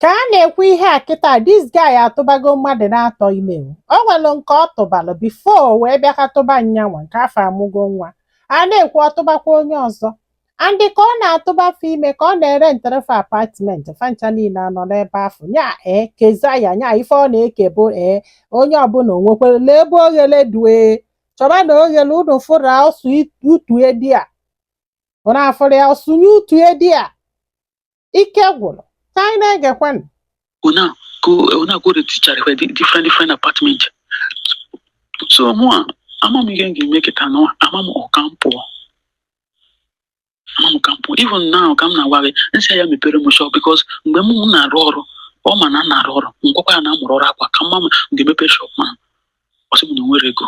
ka a na-ekwu ihe a kịta this guy atụbago mmadụ naatọ ime o nwere nke ọ tụbalụ before wee bịa ka tụba nya nwa nke afụ amụgo nwa a na-ekwu ọ tụbakwa onye ọzọ and ka ọ na-atụba fa ime ka ọ na-erentere fa apartment fa ncha niile anọ n'ebe afụ nya ee keza ya nya ife ọ na-eke bụ ee onye ọbụla o nwekwere lee ebe oghere dụ chọba na oghere unu fụrụ ọ sụ utu edi a ụna afụrụ ya ọ sụnye utu edi a ike gwụrụ ka anyị na-egekwanụ ọ na-aga ọ na-aga erentichara fa di different different apartment so mụwa ama m ihe m ga-eme kịta nwa ama m ọ ka m pụọ ama m ka m pụọ even now ka m na-agwa gị m sị ya mepere m shop because mgbe m na-arụ ọrụ ọ ma na m na-arụ ọrụ m gwakwa ya na m mụrụ ọrụ akwa ka m ma m ga-emepe shop ma ọ sị m na o nwere ego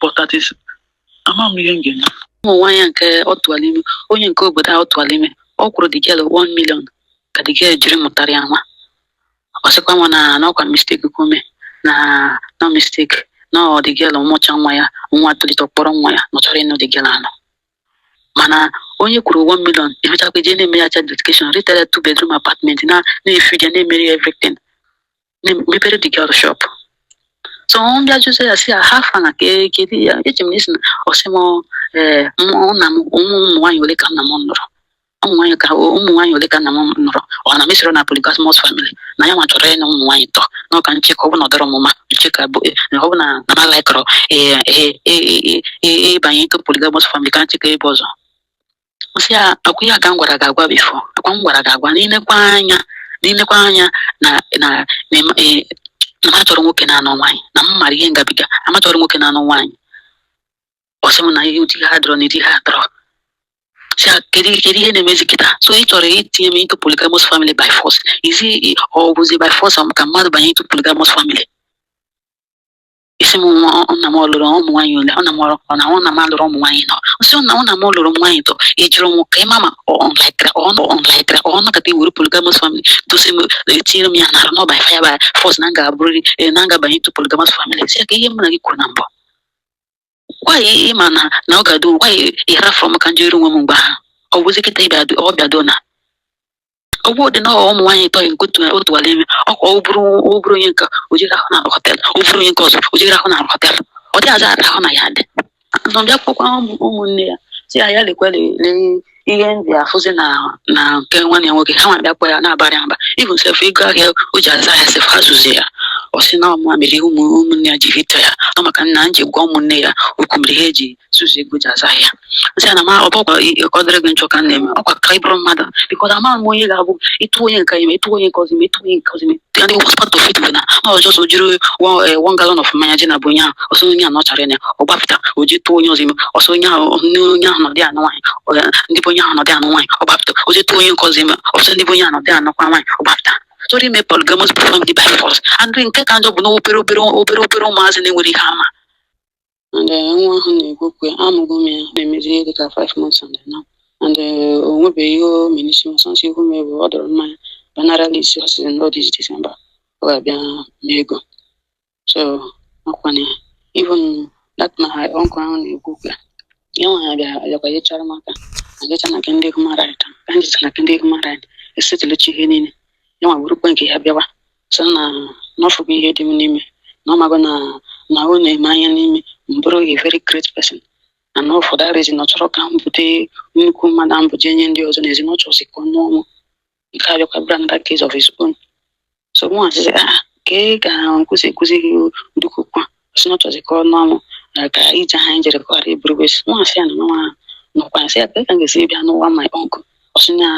but that is ama m ihe m ga-eme ụmụ nwaanyị a nke ọ tụwara ime onye nke obodo a ọ tụwara ime ọ kwụrụ the girl 1 million ka the girl jiri mụtara ya nwa ọ sịkwa mụwa na na ọkwa mistake ka o mee na na mistake na ọ the girl mụcha nwa ya nwa tolite kpọrọ nwa ya na ọ chọrọ ịnụ the girl anụ mana onye kwụrụ 1 million emechakwa jee na-eme ya child dedication rentara two bedroom apartment na na-efeed ya na-emere ya everything me- mepere the girl shop so m bịa jụzie ya sị ya how far na ka e- kedu ya eji m n'isi na ọ sị m ee mụ nna m ụmụ ụmụ nwaanyị ole ka nna m nụrụ ụmụ nwaanyị ka ụmụ nwaanyị ole ka nna m nụrụ ọ na m esirọ na polygamous family na ya nwa chọrọ ịnụ ụmụ nwaanyị ịtọ na ọ ka m cheka ọ bụ na ọ dọrọ mụ mma m cheka ọ bụ na ọ bụ na na m alaikọrọ ịbanye into polygamous family ka m cheka ebe ọzọ m sị ya ọkwa ihe a ka m gwara gị agwa before ọkwa m gwara gị agwa n'ilekwa anya n'ilekwa anya na na na ịma- eh, na m achọrọ nwoke na-anụ nwaanyị na m mara ihe m gabiga na m achọrọ nwoke na-anụ nwaanyị ọ sị m na ihe ụdị a adọrọ na ụdị a adọrọ sị ya kedu kedu ihe na-emezi kịta so ị chọrọ itinye m into polygamous family by force zi ọ bụzi by force ka mmadụ banye into polygamous family ị sị m nwa ọ- nna m ọ lụrụ ụmụ nwaanyị ole ọ na m ọ na ọ nna m alụrụ ụmụ nwaanyị ịnọ ọ sị ọ na ọ nna m lụrụ ụmụ nwaanyị ịtọ ị jụrụ m ka ị ma ma ọ ọ laikra ọ nọ ọ laikra ọ nọkata i were polygamous family dosi m etinyere m ya n'arụ na ọ by fire by force na m ga-abụrịrị eh, na m ga-abanye into polygamous family sị ya ka ihe mụ na gị kwuru na mbụ gwa gị ị ma na na ọ ga-adụ gwa gị ị hafụrụ m ka m jeere onwe m mgbe ahụ ọ bụzi kịta ịbịa adụ- ọ bịado na ọ bụ dị na ọ ụmụ nwaanyị ịtọ ahụ nke ọ tụ ọ tụwara ime ọkwa ọ bụrụ ọ bụrụ onye nke o jere hụ na hotel ọ bụrụ onye nke ọzọ o jere hụ na hotel ọ dị aza ahụ na ya dị nọ bịa kpọkwa ụmụ- ụmụnne ya sị ya ya lekwa le- lee ihe ndị afụzi na na nke nwanne ya nwoke ha nwa bịa kpọ ya na-abarị mba even sef ego ahịa o ji azụ ahịa sef ha zuzi ya ọ sị na ọ mụ nwa mere ụmụ ụmụnne ya ji hate ya ọ maka na m je gwa ụmụnne ya okwu mere ha eji zuzi ego o ji azụ ahịa sị ya na ma ọ bụkwa ka ọ dịrị gị njọ ka m na-eme ọkwa ka ị bụrụ mmadụ because amaghị m onye ga-abụ ị tụọ onye nke a ime ị tụọ onye nke ọzọ ime ị tụọ onye nke ọzọ ime and the worst part of it bụ na ọ just o jiri one eh, one gallon of mmanya je na be onye ahụ ọ sị onye a na ọ chara ya ọ gbapụta o je tụọ onye ọzọ ime ọ sị onye ahụ nne onye ahụ nọdị anụ nwaanyị ọ ga- ndị be onye ahụ nọdị anụ nwaanyị ọ gbapụta o je tụọ onye nke ọzọ ime ọ sị ndị be onye ahụ nọdị anụkwa nwaanyị ọ gbapụta sori ime polygamous family by force and nke ka njọ bụ na obere obere obere obere ụmụazị na-enwerọ ihe ha ma and eh, nwa ahụ na-ekwu okwu ya amụgo m ya na-emezi ihe dịka 5 months and eh, now and eh, o nwebeghị ihe o mere n'isi ọ sọọsọ ihu m ebe ọ dọrọ mmanya banara list ọ sịrị na ọ this December ọ ga-abịa mee ego so ọkwa ya even that my uncle ahụ na-ekwu okwu ya ya nwa ha bịara bịakwa yechara m aka agacha na nke ndị human right ka anyị jecha na nke ndị human right esettlechaa ihe niile ya nwa burukwa nke ya bịawa sị na na ọ fụgo ihe dị m n'ime na ọ mago na na ọ na-ene anya n'ime m bụrụ a very great person and all for that reason ọ chọrọ ka m bute nnukwu mmadụ a m bụ je nye ndị ọzọ n'ezi na ọ chọrọzi ka ọ nụọ mụ nke a bịakwa brought another case of his own so mụ asịzi ya ka ị ga na-ekwuzi ekwuzi gị dukwu kwa ọ sị na ọ chọzi ka ọ nụọ mụ na ka ije ha anyị jere ka ọ ghara ịbụrụ waste mụ nwa asị ya na nwa ahụ nọkwa ya sị ya ka ka m ga-esi bịa nụwa my uncle ọ sị na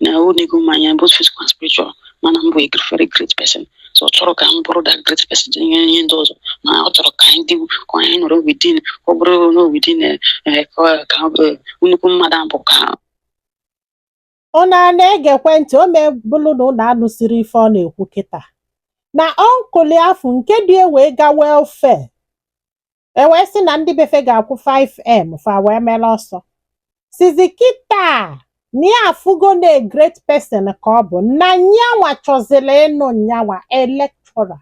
na o nego m anya both physical and spiritual ma na m bụ a gr- very great person so ọ chọrọ ka m buru that great person je nye ndị ọzọ na ọ chọrọ ka anyị dị ka anyị nọrọ within ka ọ bụrụ na within eh, eh, ka ọ- ka ọ bụrụ nnukwu mmadụ abụ ka Unu ana-egekwe ntị? O mee bụrụ na unu anụsịrị ife ọ na-ekwu kịta na uncle ya afụ nke dị e wee ga welfare e wee sị na ndị befe ga-akwụ 5m fa wee mere ọsọ sịzi kịta na ya afụgo na a great person ka ọ bụ na nyanwa chọziri ịnụ nyanwa a lecturer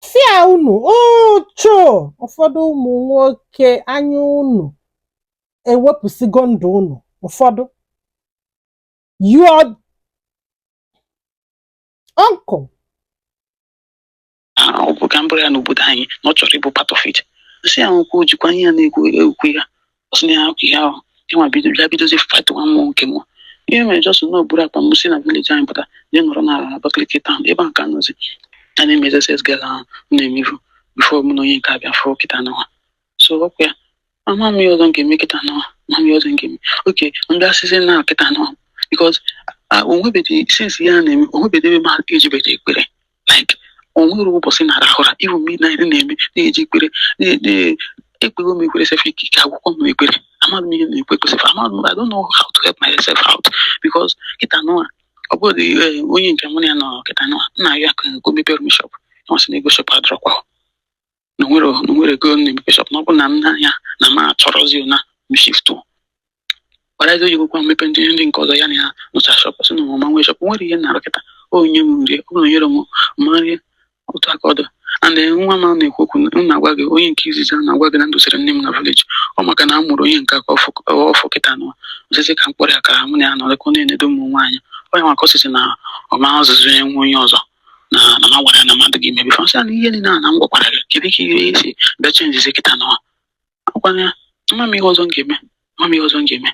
sịa unu uchu ụfọdụ ụmụ nwoke anya unu ewepụsịgo ndụ unu ụfọdụ your uncle ahụ ọ bụ ka m bụrụ ya n'obodo anyị na ọ chọrọ ịbụ part of it nsị ahụ kwuo jikwa ihe ya na-ekwu ekwu ya ọ sị na ya hapụ ihe ahụ ịnwa bido bịa bidozi fight nwa m mụ nke mụ ihe mere just na m buru akpa m si na village anyị pụta je nọrọ n'ala na Abakaliki town ebe a ka m nọzi a na-eme sales girl ahụ m na-emevu before mụ na onye nke abịa fụrụ kịta n'ụwa so ọkwa ya ama m ihe ọzọ m ga-eme kịta n'ụwa ma m ihe ọzọ m ga-eme okay ndị asịzi na kịta n'ụwa because o nwebedị since ya na-eme o nwebedị ebe m ejebedị ekpere like o nwere ụbọchị na arahụ ụra even midnight na-eme na-eji ekpere na- na- ekpego m ekpere sef ike ike agwụkwa m ekpere amaghị m ihe m na-ekwu ekwu sef amaghị m I don't know how to help myself out because kịta nụwa ọ bụrụ na eh, onye nke mụ na ya nọ kịta nụwa na-ayọ ya ka o mepere m shop ọ sị na ego shop adịrọkwa na nwere na nwere ego m na-emepe shop na ọ bụrụ na m na-anya na m achọrọzi na m shift kparazi oyigokwa mmepe ndị ndị nke ọzọ ya na ya nụcha shop sị na ọmụma nwee shop nwere ihe na-arụ kịta o nye m nri ọ bụrụ nyere m ma nri otu aka ọdụ and then nwa m a na-ekwu okwu m na-agwa gị onye nke izizi a na-agwa gị na m dusiri nne m na village ọ maka na a mụrụ onye nke a ka ọfụ ọfụ kịta nụwa ọ sịzị ka m kpọrọ ya ka mụ na ya nọrịkọ na-enedo ụmụ nwaanyị onye maka ọ sịzị na ọ ma-azụzị ya nwa onye ọzọ na na m gwara ya na m adịghị ime before sị na ihe niile a na m gwakwara gị kedu ka ihe si bịa chenjizi kịta na akwanye ya ama m ihe ọzọ m ga-eme ama m ihe ọzọ m ga-eme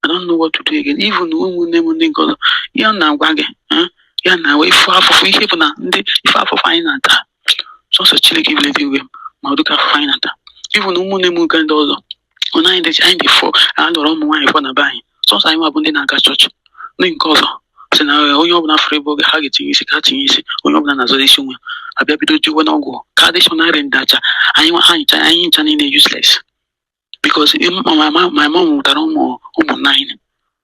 I don't know what to do again even ụmụnne m ndị nke ọzọ ya na-agwa gị eh, ya na wee fụ afụfụ ihe bụ na ụdị ife afụfụ anyị na-ata sọsọ Chineke bi n'eluigwe ma ụdị afụfụ anyị na-ata even ụmụnne m nke ndị ọzọ ọ na anyị dị anyị dị four a lụrụ ụmụ nwaanyị four na be anyị sọsọ anyị nwa bụ ndị na-aga chọọchị ndị nke ọzọ sị na eh, onye ọbụla fụrụ ebe oge ha ga-etinye isi ka ha tinye isi onye ọbụla na-azọrọ isi onwe a bịa bido jewe n'ọgwụ ka a dị sure na e rendercha anyị nwa ha ncha anyị ncha niile useless because eh, m- my mom my mom mụtara ụmụ ụmụ nine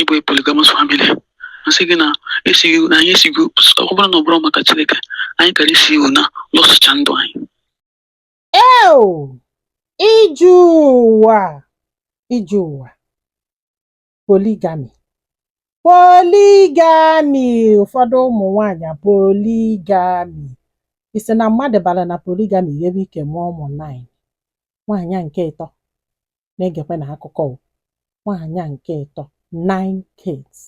ịbụ a polygamous family asị gị na esighị na anyị esighị ọ bụrụ na ọ bụrụ maka Chineke anyị kara isi even na lọsụcha ndụ anyị eo ije ụwa ije ụwa polygamy polygamy ụfọdụ ụmụ nwaanyị polygamy ị sị na mmadụ bara na polygamy were ike mụọ ụmụ nine nwaanyị nke ịtọ na-egekwanụ akụkọ o nwaanyị a nke ịtọ nine kids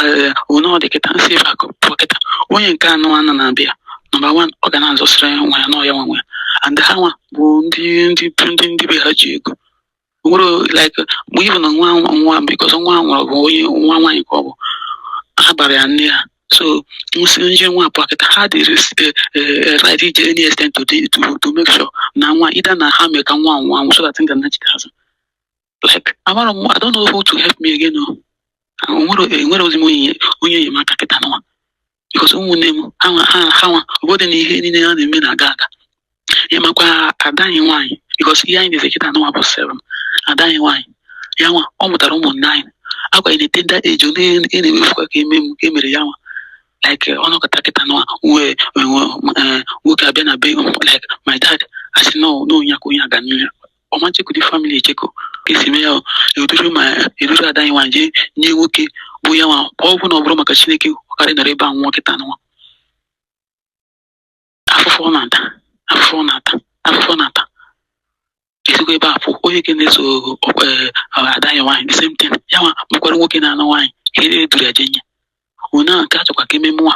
ee onye ọ dị kịta nsị ebe akụ pụọ kịta onye nke anụ anọ na-abịa number one ọ ga na-azọsịrị nwa ya na ọ ya nwa nwa ya and ha nwa bụ ndị ndị bụ ndị ndị be ha ji ego nwere like mgbe even na nwa nwa nwa because nwa ahụ nwụrụ bụ onye nwa nwaanyị ka ọ bụ ha gbara ya nne ya so nwụsị nje nwa apụa kịta ha dị ris- eh, eh, eh, ready ije any extent to, the- to, to make sure na nwa either na ha mee ka nwa ahụ nwa anwụ so that m ga-anachita azụ like amara m i don't know who to help me again o nwere enwerọzi m onye onye enyemaka kịta nụwa because ụmụnne m anwa ha ha nwa ọ bụdị na ihe niile ha na-eme na-aga aga ya makwa ada anyị nwaanyị because ihe anyị nọzi kịta nụnwa bụ seven ada anyị nwaanyị ya nwa ọ mụtara ụmụ nine akwanye na tender age ọ na-emefukwa ka e me m ka e mere ya nwa like ọ nọkọta kịta nụwa wee nwoke abịa na be like my dad asị no na onye a ka onye a ga-anụ ya ọma chekọ ndị famili echekọ ka esi mee ya o. eduru ma eduru ada anyị nwanyị jee nye nwoke bụ ya nwa ọ bụ na ọ bụrọ maka chineke ọ karị nọrọ ebe a nwa kịta nwa afụfụ ọ na-ata afụfụ ọ na-ata afụfụ ọ na-ata esigo ebe a pụ onye ke na-eso ọkpa eh, ada anyị nwaanyị the same thing ya nwa mekwara nwoke na-anụ nwaanyị ka e duru ya jee nye onye ahụ nke a chọkwa ka ememe nwa